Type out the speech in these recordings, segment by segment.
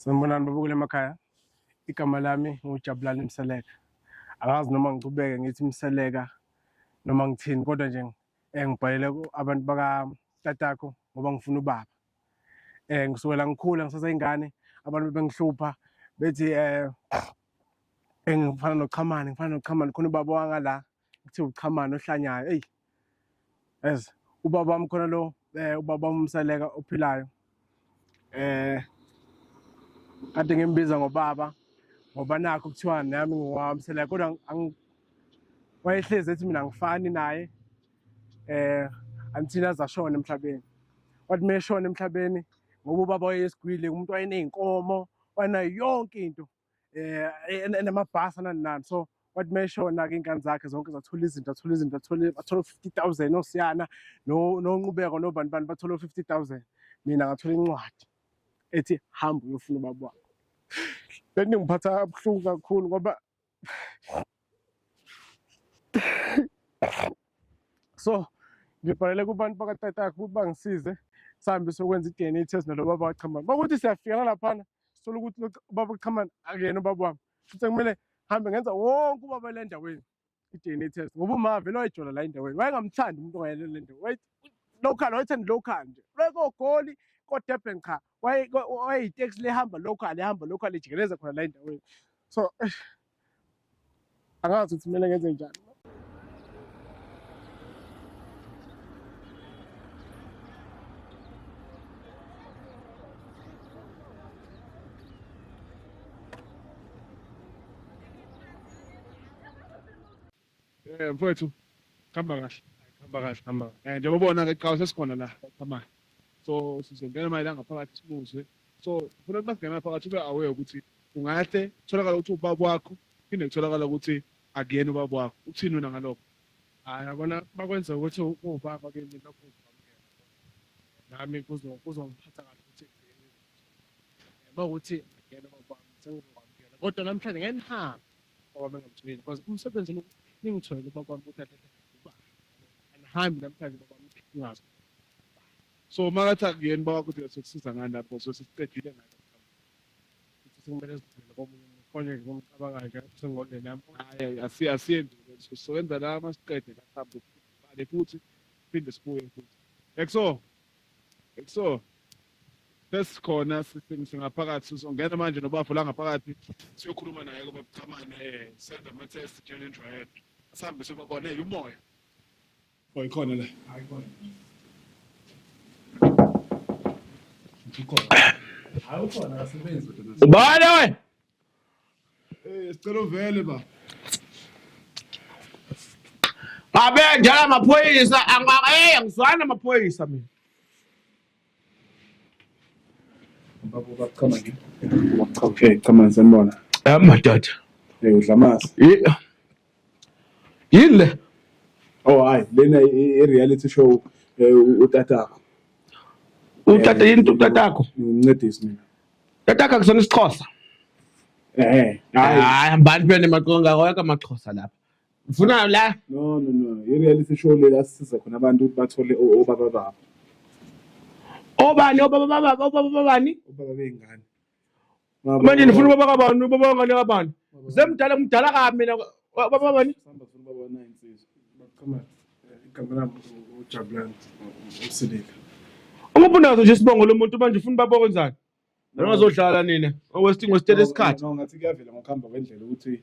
Sanibonani babukela emakhaya. Igama lami nguJabulani Mseleka. Angazi noma ngichubeke ngithi Mseleka noma ngithini kodwa nje eh, ngibhalele abantu baka tatakho ngoba ngifuna ubaba. Eh ngisukela ngikhula ngisaseyingane abantu bengihlupha bethi eh engifana noChamani ngifana noChamani khona ubaba wangala kuthiwa uChamani ohlanyayo eyi as ubaba wami khona lo eh ubaba umseleka ophilayo eh kade ngimbiza ngobaba ngoba nakho kuthiwa nami ngiwamseleka kodwa wayehlezi ethi mina ngifani naye eh until azashona emhlabeni wathi meshona emhlabeni ngoba ubaba wayesigwile umuntu wayeneyinkomo wanayo yonke into eh enamabhasi ananani so wathi meshona ke inkani zakhe zonke zathola izinto athola izinto athola athola 50000 osiyana no nonqubeko nobani bani bathola 50000 mina ngathola incwadi ethi hamba uyofuna ubaba wakho lento ngiphatha kabuhlungu kakhulu ngoba so ngibhalele kubantu bakatatakhe ukuthi bangisize sihambe sokwenza i-DNA test nalo baba wachambana bakuthi siyafika nalaphana sithola ukuthi lo- ubaba uqhamana akuyena ubaba wami futhi kumele hambe ngenza wonke ubaba le ndaweni i-dna test ngoba uma vele wayijola la endaweni wayengamthandi umuntu ongayele le ndawo Waye- local wayethanda local nje wayekogoli kodurban cha waye- wa- wayeyiteksi lehamba local ehamba local ijikeleza khona la endaweni so eish, angazi ukuthi kumele ngenze njani Eh mfowethu khamba kahle. Khamba kahle khamba. Eh njengoba ubona ke qhawe sesikhona la khamba. So sizongena manje la ngaphakathi simuzwe. So ufuna ukuthi masingena phakathi ube aware ukuthi ungahle kutholakala ukuthi ubaba wakho phinde kutholakala ukuthi akuyena ubaba wakho. Uthini wena ngalokho? Hayi yabona bakwenza ukuthi ubaba ke mina lokho nami kuzo kuzongiphatha kahle ukuthi ekugcineni uma ukuthi ngiyena ngokwami sengizokwamukela kodwa namhlanje ngeke nihambe babami engamthulile because umsebenzi lo ningithwele ubakwami ukuthi athathe ubaba angihambi namhlanje babami ngazi so makathi akuyena baba ukuthi sokusiza ngani lapho so sesiqedile ngani ukuthi sekumele sizithwele komunye umuntu konje nje kumcabanga nje sengondeni yami hayi asi asiyendi so soyenza la masiqede la hamba ubale futhi phinde sibuye futhi ekso so first khona singaphakathi sizongena manje nobafo la ngaphakathi siyokhuluma naye kuba buchamane eh senza ama test challenge right sihambe sibabone umoya oh ikhona la hayi khona ikhona hayi ukhona asebenzi ubani wena Eh sicela uvele ba. Ngabe njala amaphoyisa angaka eh angizwani namaphoyisa mina. Babo bachama ngi. Okay, chama sanibona. Eh madoda. Eh udlamasi. Eh yini le oh hayi lena i-reality show eh, u- utatakho utata yini utatakho ngincedisi mina tatakho akusona isixhosa eh hayi hayi hambani phela nemaqonga awekho amaxhosa lapha ufuna la no no no i-reality show le la sisiza khona abantu ukuthi bathole o- obaba babo obani obaba baba obaba babani obaba bey'ngane manje nifuna ubaba kabani ubaba wangane kabani semdala mdala kabi mina wa- baba bani Sihamba sifuna ubaba nayo insizwa. Baqhama eh, igama lami u- uJabulani u- uSilika. umuphi unazo nje isibongo lomuntu manje ufuna ubaba okwenzani ningazodlala nina owesting wesitela isikhathi No, ngathi kuyavela ngokuhamba kwendlela ukuthi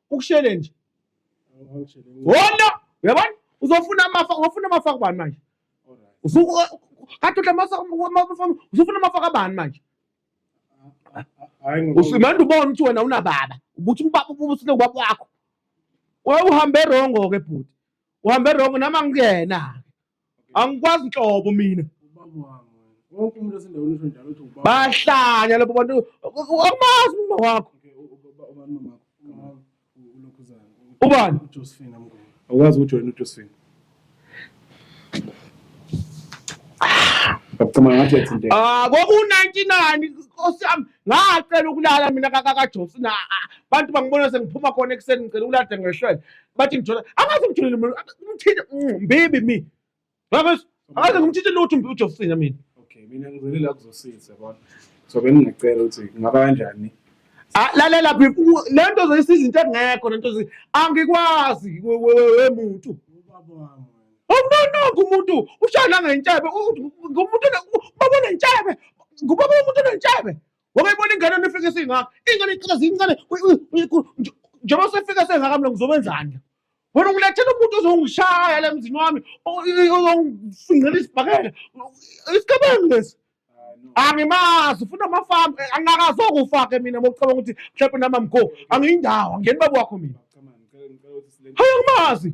ukushele nje wona yabona uzofuna amafa ufuna amafa kubani manje kade masa usufuna amafa kabani manje manje ubona ukuthi wena unababa ubuthi ubaba ubusile ubaba wakho wawuhambe rongo ke bhuti uhambe rongo nama ngiyena angikwazi nhlobo mina bahlanya labo bantu awumazi umama wakho ubani awukazi ujoyina ujosephine Ngicabanga ngathi yathinteka. Ah, kwaku-99 Nkosi yami ngacela ukulala mina kakajobs na abantu bangibona sengiphuma khona ekuseni ngicela ukulala ngehlwele bathi ngithola angazi ngitholile umuntu umthinte mbibi mi ngakho angazi ngimthinte lutho mbibi ujofina mina okay mina ngizele la kuzosiza yabona so bengingacela ukuthi kungaba kanjani ah, lalela bhibu le nto zoyisa izinto engekho le nto angikwazi wemuntu awunononke umuntu ushaya nangentshebe ngumuntu babonentshebe ngubaba womuntu onentshebe Wakayibona ingane nifike singaka. Ingane icela zincane. Njengoba sefika sengaka mina ngizobenzani? Wena ungilethela umuntu ozongishaya la emzini wami, ozongifingela isibhakela. Isigebengu lesi. Angimazi ufuna amafamu angakazokufa-ke mina mokucabanga ukuthi mhlawumbe namamgo angiyindawo angiyeni baba wakho mina. Hayi angimazi.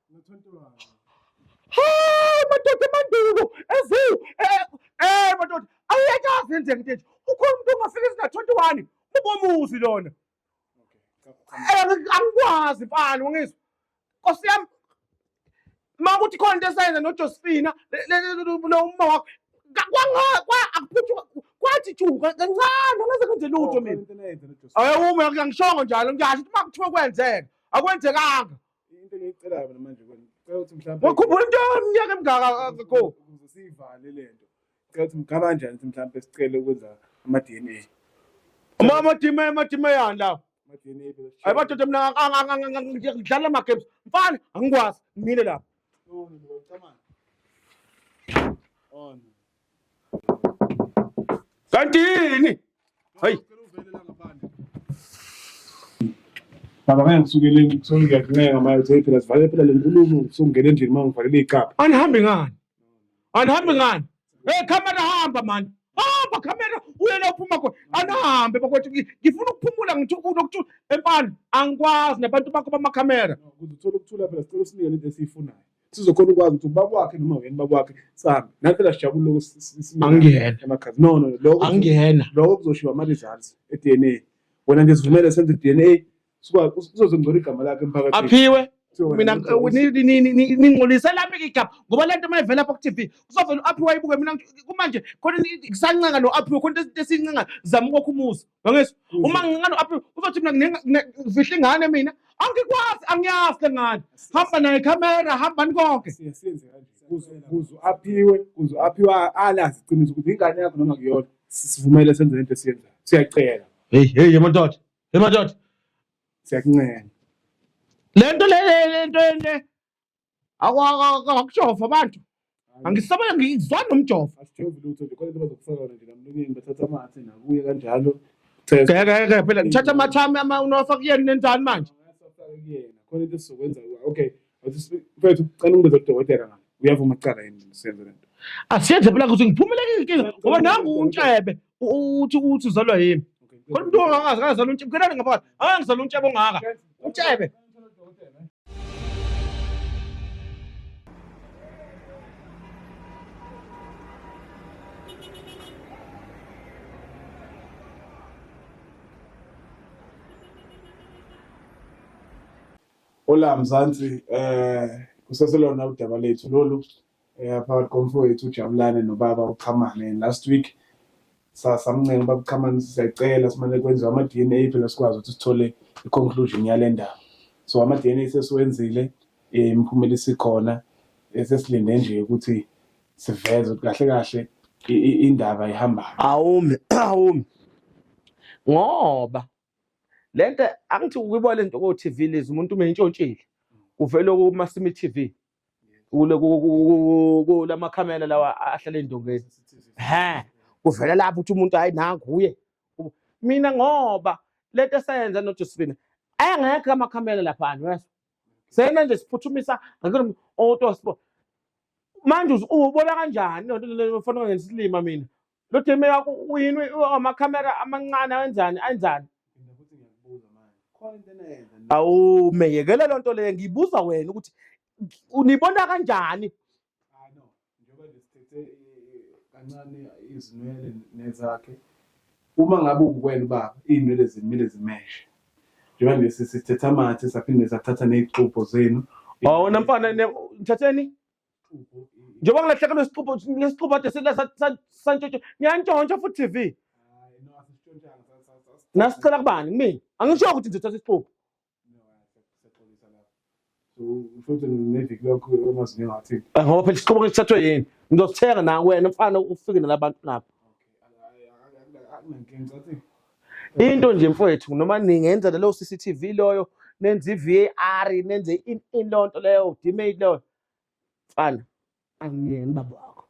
Hey madoda emandulo ezi eh, eh madoda awuyekazi nje nje ukhona umuntu ongafika izinga 21 ubomuzi lona eh, angikwazi mfana ungizwa Nkosi yami uma kuthi khona into esayenza noJosephina lo uma wakho kwathi ju kancane ngaze kwenze lutho oh, mina ayewume angishongo njalo ngiyasho ukuthi uma kuthiwa kwenzeka akwenzekanga into engiyicelayo mina manje kwena cela ukuthi mhlawumbe wakhumbula into yomnyaka emngaka akho ukuze siyivale le nto cela ukuthi mgaba kanjani ukuthi mhlawumbe sicele ukwenza ama-d n a uma amadima amadima yani lawo ama-d n a phela hayi badoda mina ang- ang- ang- ang- ang- ngi- ngidlala ama-games mfana angikwazi ngimile lapho Oh, no, no, come on. Oh, no. Kanti yini? Hayi. Baba ngeke ngisukele ngithola ngiyakuncenga manje uthi phela sivale phela le nkulumo usungena endlini uma ngivalele igaba. Anihambi ngani? Anihambi ngani? Hey camera hamba manje. Hamba camera uye la uphuma khona. Anihambe bakwethu ngi- ngifuna ukuphumula ngithi unokuthi empani angikwazi nabantu bakho bama camera. Ukuze uthole ukuthula phela sicela usinike lento esiyifunayo. sizokhona ukwazi ukuthi ubaba wakhe noma wena ubaba wakhe sambe nathi phela sijabule lokho angiyena emakhasi no no lokho angiyena lokho kuzoshiwa ama results e DNA wena nje sivumele senze DNA sikwazi uzozongcola igama lakhe emphakathini aphiwe mina ningcolise lami igama ngoba le nto mayivela apha ku-tv kuzovela u-aphiwa ibuke mina kumanje khona kusancenga lo aphiwe khona into esincenga zama ukwakha umuzi Bangezwa? Uma ngincane aphi uzothi mina ngifihla ingane mina angikwazi angiyazi le ngane. Hamba naye camera hambani konke. Siyasenze kanje. Kuzo kuzo aphiwe, kuzo aphiwe alazi iqiniso ukuthi ingane yakho noma kuyona. Sivumele senze into esiyenzayo. Siyacela. Hey hey yemadoda. Yemadoda. Siyakuncenga. Le nto le le nto le Aku- aku- aku- Akujova abantu. Hayi, Angisabe ngizwa nomjova. asijova lutho nje khona into bazokufaka yona nje namlonyeni bathatha amathe nakuye kanjalo test Ngeke ngeke phela ngithatha amathami ama unowafaka kuyena nenzani manje. Asafaka kuyena khona into esizokwenza kuwe. okay awuthi- mfethu cela ungibeze kudokotela ngani uyavuma kucala yini senze lento Asiyenze phela ukuthi ngiphumele inkinga ngoba nangu untshebe uthi uthi uzalwa yimi khona umuntu ongazi akazalwa untshebe kenani ngaphakathi angizalwa untshebe ongaka untshebe Hola Mzansi, eh kuseselona udaba lethu lolu eh, phakathi komfowethu uJabulane nobaba uChamane and last week samncenga uba kuchamane siyacela simane kwenziwe ama-d n a phela sikwazi ukuthi sithole i-conclusion yale ndaba so ama-d n a sesiwenzile um imiphumela isikhona eh, sesilinde nje ukuthi siveze ukuthi kahle kahle indaba ihambayo awumi awumi ngoba lento angithi ukuyibona lento ko TV lezi umuntu uma intshontshile uvele kuma Simi TV kula makhamera lawa ahlala ey'ndongeni he kuvela lapho ukuthi umuntu hhayi nanguye mina ngoba le nto esayenza nojosifina ayengekho amakhamera laphana wesho sena nje siphuthumisa otospo manje ubona kanjani lento leyo fanele ngenza isilima mina Lo Demeya uyini amakhamera amancane awenzani anjani? Awu meyekele lonto leyo ngibuza wena ukuthi unibona kanjani? Hayi no, njengoba nje sithethe kancane izinwele nezakhe. Uma ngabe ukwena ubaba izinwele zimile zimeshe. Njengoba nje sisithetha amathe saphinde sathatha nezixubho zenu. Awona mfana nithatheni? njengoba ngilahlekelwe isixubho lesixubho ade santshontsha ngiyantshontsha futhi TV nasicela kubani kumina angisho ukuthi ngizothatha isixubho futhi neviki lokho omazinyo ngathi ngoba phela isixubho ngisithathwe yini ngizosithenga na wena mfana ufike nalabantu lapho into nje mfowethu noma ningenza lelo CCTV loyo nenze i-VAR nenze ilonto leyo udimate leyo mfana angiyeni baba wakho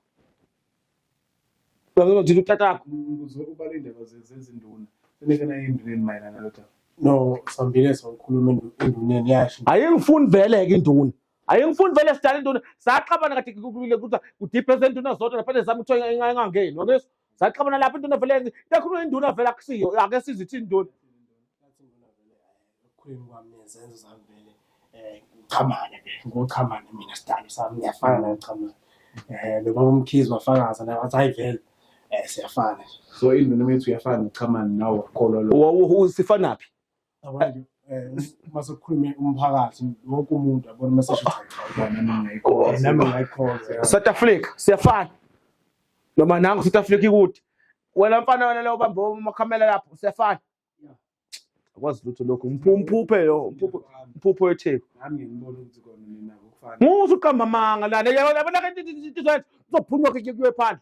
ngizojika utatakho ukuze ubale indaba zezinduna senike nayo enduneni mayelana nalotha no sambile sokhuluma enduneni yasho ayingifuni vele-ke induna Hayi ngifuni vele sidala induna saxabana kade kukulile ukuthi udeepese induna zodwa lapha nezami kuthiwa ingangeni wakeso saxabana lapha induna vele ikakhulu induna vele akusiyo ake sizithi induna ekukhuleni kwami nezenzo zami vele um ngichamane ke ngochamane mina sidalo sami ngiyafana naye uchamane um nobaba umkhizi wafakaza naye wathi hayi vele um siyafana so induna methu uyafana uchamane nawe wakholwa lo sifanaphi Yabona nje eh, uma sekukhulume umphakathi wonke umuntu abona uma sesho ukuthi nami ngayikhoza South Africa siyafana noma nangu South Africa ikude wena mfana wena leyo ubambe umakhamela lapho siyafana akwazi lutho lokho umphuphe lo umphuphe wetheku nami ngibona ukuthi kona mina ngokufana musu uqamba amanga lana yabona ke izophunywa ke kuye phandle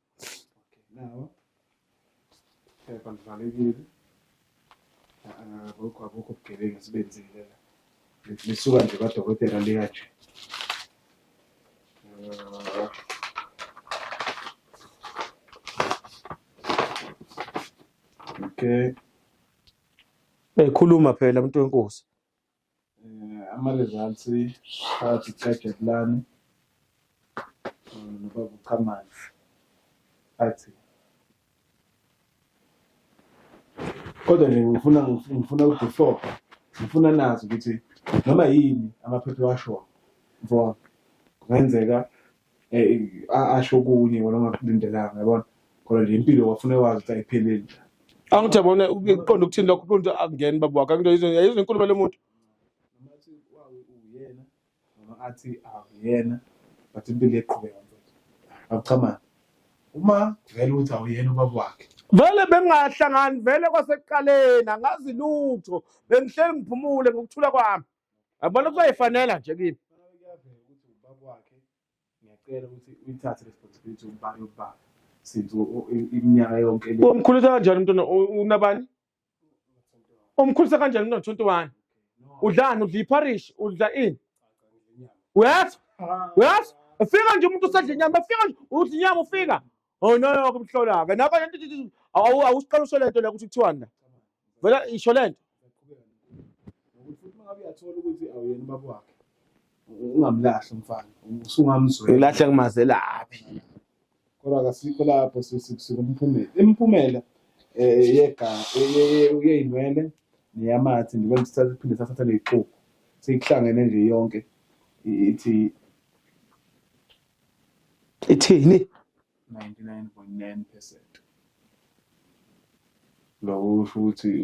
nawo phepha livalekile akukho akukho ubugebengu esibenzile la lisuka nje kwadokotela liya nje okay ekhuluma phela umuntu wenkosi um ama-results phakathi kukajakulane nobaba uqhamanzi athi kodwa nje ngifuna ngifuna ukuthi four ngifuna nazi ukuthi noma yini amaphepha ewashoyo mfowabo kungenzeka eh, asho okunye wena ongakulindelanga yabona kodwa le mpilo wafuna wazi ukuthi ayipheleli nje angithi yabona uqonda ukuthini lokho umuntu akungeni baba wakhe angithi yizwe yizwe inkulumo yalo muntu noma athi wa- uyena noma athi akuyena but impilo iqhubeka mfethu akuchamani uma vele ukuthi awuyena ubaba wakhe vele bengingahlangani vele kwasekuqaleni angazi lutho bengihleli ngiphumule ngokuthula kwami yabona kuzoyifanela nje kimi ngiyacela ukuthi uyithathe responsibility ubani ubani since iminyaka yonke le umkhulisa kanjani umntwana unabani umkhulisa kanjani umntwana 21 udlani udla iparish udla ini uyazi uyazi ufika nje umuntu usadla inyama ufika nje udla inyama ufika Oh no no kumhlola ke nakho lento awu awusiqala usho lento la ukuthi kuthiwani la. Vela isho lento. Ukuthi futhi uma ngabe uyathola ukuthi awuyena ubaba wakhe. Ungamlahli umfana. Usungamzwela. Ilahle kumazelaphi. Kodwa kasikho lapho sisikusuka umphumela. Imiphumela eh yega uyeyinwele neyamathi ndibona sithatha phinde sathatha lexuku. Sikuhlangene nje yonke ithi ithini 99.9 percent loko usho ukuthi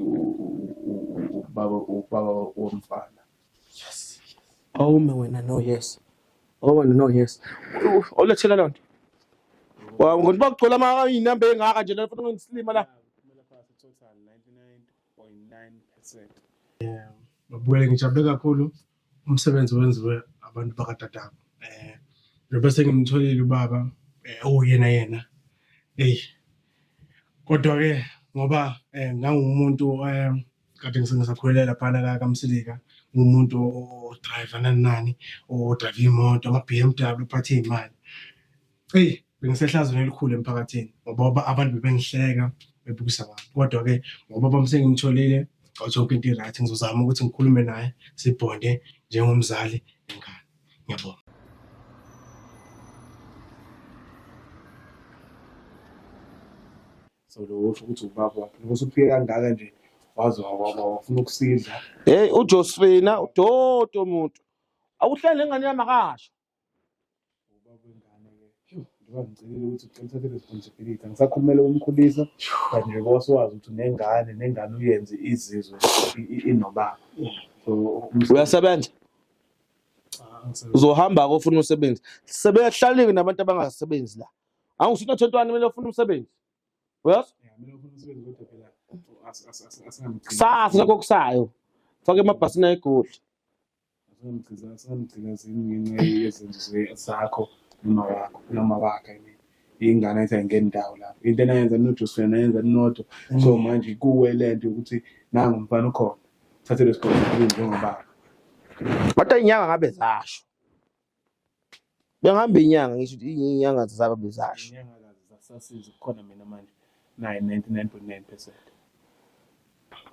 ubaba ubaba womfana yes awume wena no yes awume no yes olethela loo nto Wow, ngokuthi bakugcola ama iy'namba ey'ngaka nje la futhi ngisilima la. Kumele phase total 99.9%. Babukele ngijabule kakhulu umsebenzi wenziwe abantu bakadadabo eh njengoba sengimtholile ubaba eh uyena yena hey kodwa ke ngoba eh ngangumuntu eh kade ngisengisakhwelela phana ka kamsilika ngumuntu odrive nani nani odrive imoto ama BMW phathe imali eyi bengisehlazweni elikhulu emphakathini ngoba abantu bebengihleka bebukisa ngami kodwa-ke ngoba bami sengimtholile zonke into i-right ngizozama ukuthi ngikhulume naye sibhonde njengomzali nengane ngiyabonga so lo usho ukuthi ubaba wakhe lokho usufike kangaka nje waze wawaba wafuna ukusidla heyi ujosfina udodo muntu awuhlele ngane yami akasho ubaba wengane ke njengoba ngicelile ukuthi ucela uthathe responsibility angisakhulumela umkhulisa but nje kose wazi ukuthi unengane nengane uyenze izizwe i- i- inobaba so umsebenzi- uyasebenza Ah, angisebenzi. uzohamba-ke ofuna umsebenzi sebehlalile nabantu abangasebenzi la angisuthi nothentwani kumele ofuna umsebenzi uyazi Yeah, mina ngifuna umsebenzi kodwa phela as- as- as- asingamgcini. kusasa nakho kusayo fake emabhasini ayegoli asamgcilazini ngenxa yezenzo zakho noma wakho noma wakhe I mean ingane ethi ayingeni ndawo lapho into enayenza ninojusi wena nayenza ninodwa mm. so manje kuwe le nto yokuthi nangu mfana ukhona thathe lesigqoko njengoba kodwa inyanga ngabe zasho Bengihamba inyanga ngisho ukuthi inyanga zisakabe zasho. Inyanga kazi zasasiza kukhona mina manje naye 99.9 percent.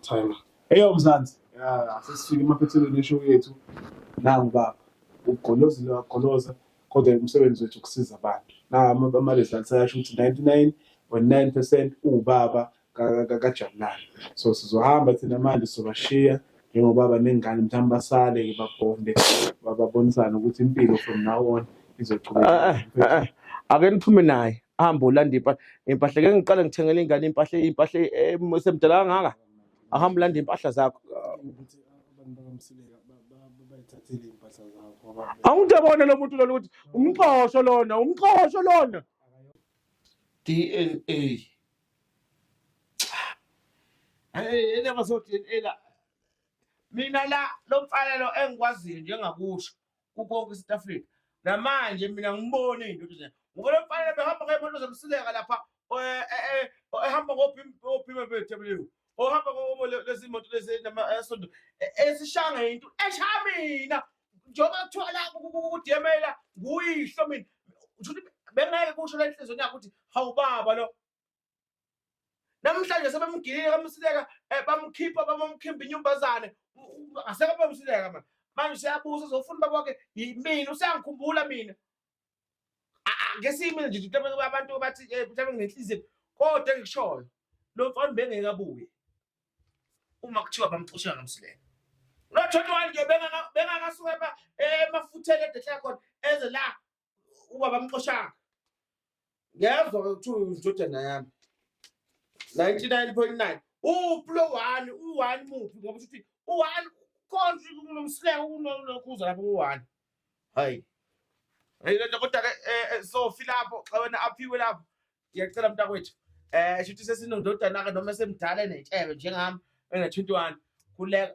Time. Eyo Mzansi, ya sesifike emaphethelweni eshow yethu. Nangu baba, ugolozile wagoloza kodwa umsebenzi wethu ukusiza abantu. Na ama-results ayasho ukuthi 99.9% uwubaba kajabulani so sizohamba thina manje sobashiya njengoba banengane mhlawumbe basale-ke babonde babonisane ukuthi impilo from now on izoqhubeka eh, eh, eh, ake niphume naye ahambe ulanda impahla impahla ke ngiqale ngithengele ingane impahla impahla esemdala kangaka ahambe ulanda impahla zakho awumuntu abone lo muntu lona ukuthi umxhosho lona umxhosho lona dna Yena bazodelela mina la lo mfana lo engikwaziyo njengakusho kukonke eSouth Africa namanje mina ngibone into nje ngoba lo mfana behamba ngeyimoto zomsileka lapha eh, eh, eh, ehamba ngophima bethu ohamba lezimoto lezi esonto esishanga into eshaya mina njengoba kuthiwa la udemela nguyihlo mina ukuthi bengeke kusho la enhlizweni yakho ukuthi hawu baba lo namhlanje sebemgilile kamsileka eh, bamkhipha bamamkhimba inyumbazane asekabamsileka manje manje siyabuza uzofuna ubaba wakhe yimina usiyangikhumbula mina ake siyimile nje mhlawumbe abantu bathi eh, mhlawumbe nginenhliziyo kodwa engikushoyo lo mfana bengeke abuye uma kuthiwa bamxosha ngamsilelo no 21 nje bengaka bengakasuka emafutheni edehla khona eze la uba bamxoshanga ngiyazwa kuthiwa indodana yami 99.9 uplo one u-one muphi ngoba usho ukuthi u-one konje kunomsileko kunokhuza lapho ku-one hayi hayi lento kodwa-ke eh, eh, sofi lapho xa wena aphiwe lapho ngiyacela mntakwethu um shuthi sesinondodana-ke noma esemdala enetshebe njengami ena-twenty one khuleka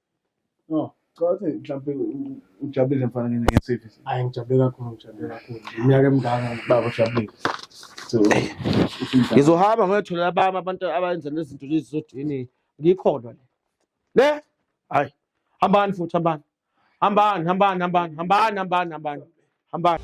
No, cela ukuthi mhlawumbe ujabulile mfana ngene ngesiphi. Hayi ngijabule kakhulu ngijabule kakhulu. Iminyaka emingaka baba ujabulile. So ngizohamba ngoyotholela abami abantu abenza nezinto lezi zodini ngikholwa le. Le? Hayi. Hambani futhi hambani. Hambani hambani hambani hambani hambani hambani. Hambani.